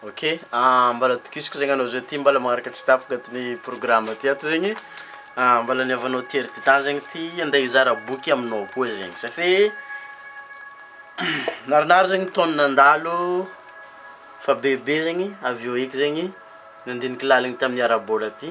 Ok, mbala tokisiko zegny anao zao ty mbala magnaraka tsy tapaka ty ny programme ty ato zegny, mbala ny havanao ty ry Titan zegny ty ande hizara boky aminao koa zegny satria narinary zegny taogno nandalo fa bebe zegny avy eo eky zegny nandiniky laliny tamin'ny ara-bola ty.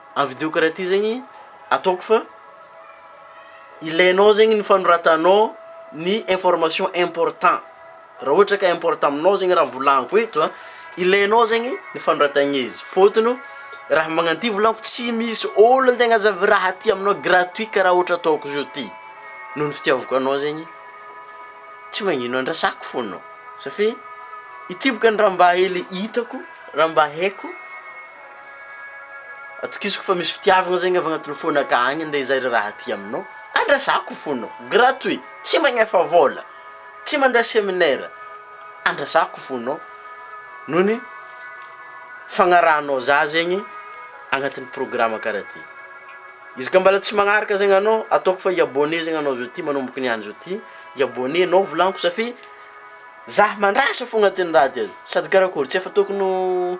Avidioko raha ty zegny ataoko fa ilainao zegny ny fanoratanao ny information important, raha ohatra ka important aminao zegny raha volaniko eto a, ilainao zegny ny fanoratagna izy fôtony raha magnano ty volaniko tsy misy ôlo te hagnazava raha ty aminao gratuit karaha ohatra ataoko zao ty, noho ny fitiavako anao zegny tsy magnino andrasako fô anao, safi- ity bôka ny raha mba hely hitako, raha mba haiko. Atokisako fa misy fitiavagna zegny avy agnatin'ny fona ka agny ndre zay ry raha ty aminao andrasako fona gratuit tsy magnefa vôla tsy mandeha seminaire andrasako fonao noho ny fagnarahanao za zegny agnatin'ny programme karaha ty izy ka mbola tsy magnaraka zegny anao ataoko fa i-abonner zegny anao zao ty manomboka niany zao ty i-abonner nao volagniko satria za mandrasa fo agnatin'ny raha ty sady karakôry tsy efa tokony ho.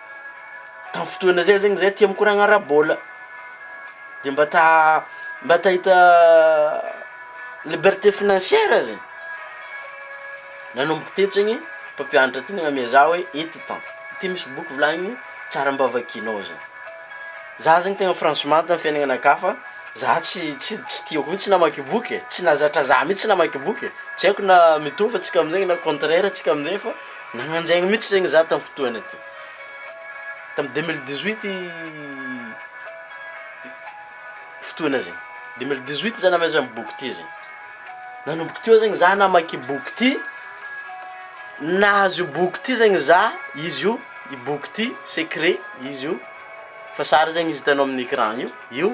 tamin'ny fotoana zay zegny zay tia mikoragna ara-bôla de mba ta mba ta hita liberté financière zay, nanomboka tetsy zegny mpampianatra ty nagname zah hoe eto tan ty misy boky volagniny tsara mba vakinao zah, zah zegny tegna franchement tamin'ny fiaignananakà fa zah tsy tsy tsy tiako mitsy namaky boky e, tsy nahazatra zah mitsy namaky boky e, tsy aiko na mitovy antsika am'zegny na contraire antsika am'zay fa. Nagnanjaigny mitsy zegny za tam fotoagna ty, tam deux mille dix huit fotoagna zegny, deux mille dix huit za namezan boky ty zegny, nanomboka teo zegny za namaky boky ty, nahazo io boky ty zegny za, izy io i boky ty secret izy io fa sary zegny izy hitanao amin'ny ecran io io.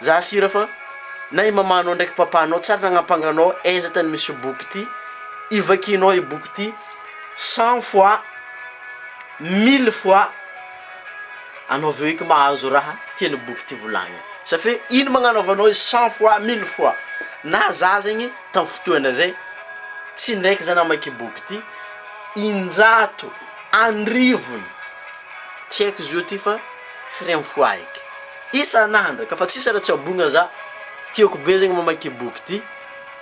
Za sira fa na i mamanao ndraiky papanao tsary nagnampanganao aiza tany misy boky ty ivakianao i boky ty cent fois mille fois anao aveo eky mahazo raha tian'i boky ty volagniny sa fe ino magnanaovanao izy cent fois mille fois na za zegny tam fotoana zay tsy ndraiky za namaky boky ty injato anrivony Tsy haiko izy io ty fa firy am fo ahiko isan andro ka fa tsisy raha tsy abogna za tiako be zegny mamaky i boky ty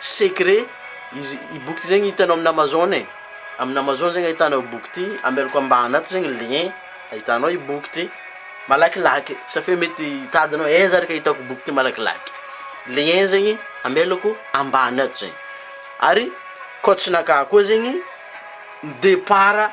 secret izy i boky ty zegny hitanao amina amazon e amina amazon zegny ahitanao i boky ty ambelako ambany ato zegny lien ahitanao i boky ty malakilaky sa fe mety hitadinao aiza ary ka hitako boky ty malakilaky lien zegny ambelako ambany ato zegny ary kô tsy naka koa zegny depart.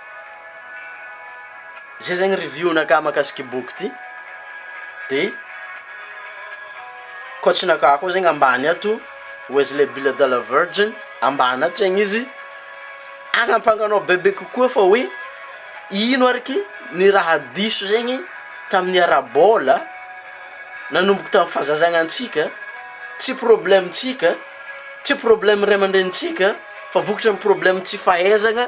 Zay zegny review nakah makasika ity boky ity, de coach nakah koa zegny ambany ato Wesley Bill de la Virgin ambany ato zegny izy anampanganao bebe kokoa fa hoe ino ary ky ny raha diso zegny tamin'ny ara-baola nanomboka tamin'ny fahazazagna antsika, tsy problemtsika, tsy probleme ray aman-drenintsika fa vokatry ny probleme tsy fahaizagna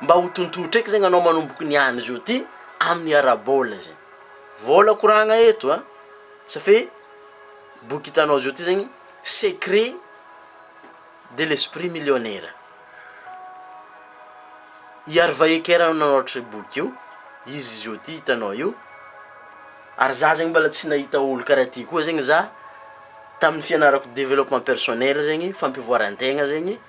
Mba ho tontotra eky zegny anao manomboky ny any zao ty amin'ny ara-bola zegny. Vola koragna eto a! Sa fe boky hitanao zao ty zegny secret de l'esprit millionnaire. I Harvey Eker no nanoratra io boky io, izy zao ty hitanao io, ary za zegny mbola tsy nahita olo karaha ty koa zegny za, tamin'ny fianarako developpement personnel zegny, fampivoaran-tegna zegny.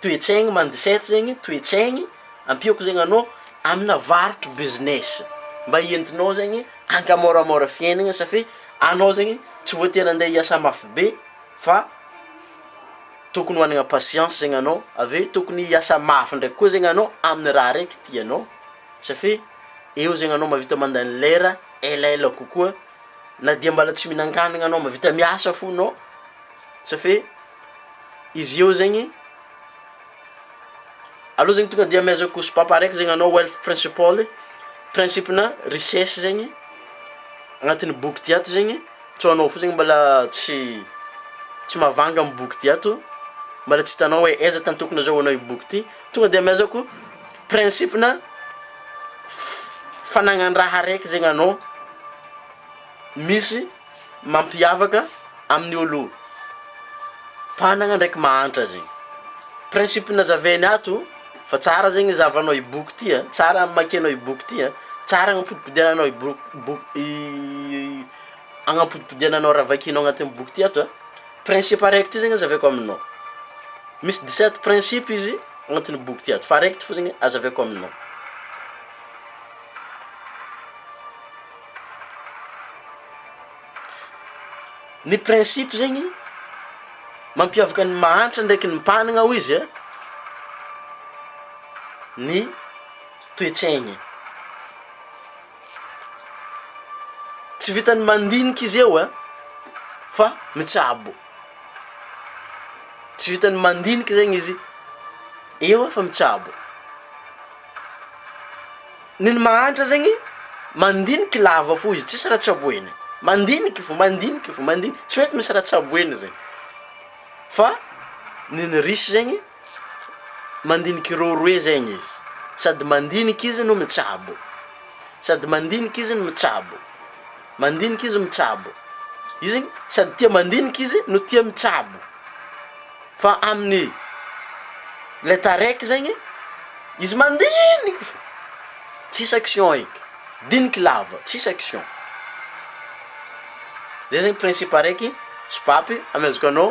Toe-tsaigny mandicette zegny toe-tsaigny ampiako zegny anao amina varotro business mba entinao zegny ankamôramôra fiainagna safi anao zegny tsy voatery andeha hiasa mafy be fa tokony managna patience zegny anao avy eo tokony hiasa mafy ndraiky koa zegny anao amina raha araiky tianao safi eo zegny anao mahavita mandany lera elaela kokoa na dia mbola tsy mihinan-kanigna anao mahavita miasa fo anao safi izy eo zegny, aleo zegny tonga de amehezako kosopapa araiky zegny anao wealth principle, principe-na richesse zegny agnatin'ny boky ty ato zegny, tsao anao fo zegny mbôla tsy tsy mahavanga amy boky ty ato, mbôla tsy hitanao hoe aiza tany tokony azahoanao io boky ty, tonga de amehezako principe-na f- fanagnan-draha araiky zegny anao misy. mampiavaka amin'ny olo mpanagna ndraiky mahantra zegny, principe nazavainy ato fa tsara zegny zahavanao i boky ty a, tsara hamakianao i boky ty a, tsara hagnapodipodenanao i bok- boky i hagnapodipodenanao raha vakinao agnatin'ny boky ty ato a, principe araiky ty zegny azavaiko aminao, misy dix sept principe izy agnatin'ny boky ty ato fa araiky ty fao zegny azavaiko aminao. Ny principe zegny mampiavaka ny mahantra ndraiky ny mpanagna hoy izy a, ny toe-tsaigny, tsy vitan'ny mandinika izy eo a fa mitsabo, tsy vitan'ny mandinika zegny izy eo fa mitsabo. Ny ny mahantra zegny mandiniky lava fo izy tsisy raha tsaboeny, mandiniky fo, mandiniky fo, mandiniky, tsy mety misy raha tsaboeny zegny, fa ny ny risy zegny mandiniky roa roe zegny izy, sady mandiniky izy no mitsabo, sady mandiniky izy no mitsabo, mandiniky izy mitsabo, izy sady tia mandiniky izy no tia mitsabo. fa amin'ny lay taraiky zegny izy mandiniky fô tsisy action eky, diniky lava tsisy action, zay zegny principe araiky sopapy amezako anao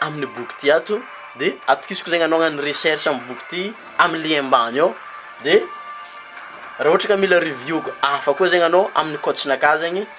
amin'ny boky ty ato de atokisako zegny anao agnano recherche amin'ny boky ty amy lien mbany ao de raha ohatra ka mila review hafa koa zegny anao amin'ny coach-nakà zegny.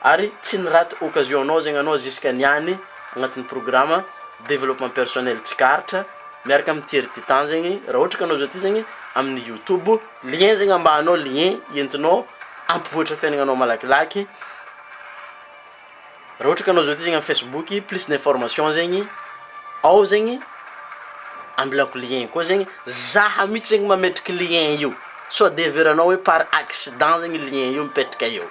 Ary tsy ny rate occasion nao zegny anao jusque niany agnatin'ny programme développement personnel tsikaritra miaraka amin'ny Thierry Titan zegny raha ohatra ka anao zao ty zegny amin'ny youtube lien zegny ambaany ao lien entinao ampivoatra fiainagnanao malakilaky raha ohatra ka anao zao ty zegny amin'ny facebook plus d'information zegny ao zegny ambilako lien koa zegny zaha mitsy zegny mametraky lien io sao de heveranao hoe par accident zegny lien io mipetraka eo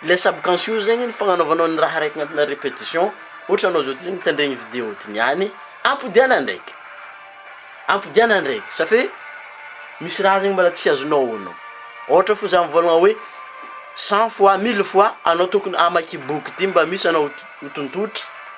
Ilay subconscious zegny ny fagnanaovanao ny raha araiky agnatinà répétition, ohatra anao zao ty zany mitandregny ny vidéo ty niany, ampodiana ndraiky, ampodiana ndraiky, ça fait misy raha zegny mbôla tsy azonao onony, ôhatra fo za mivôlagna hoe cent fois, mille fois anao tokony hamaky boky ty mba misy anao ho t- ho tontotry.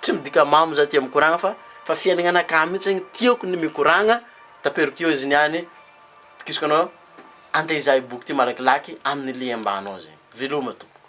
Tsy midika mamo za tia mikoragna fa fa fiainagna ka mintsy ny tiako ny mikoragna tapero teo izy niany tokisoko anao ande izahay boky ty malakilaky aminy lien mba anao zegny veloma tompoko.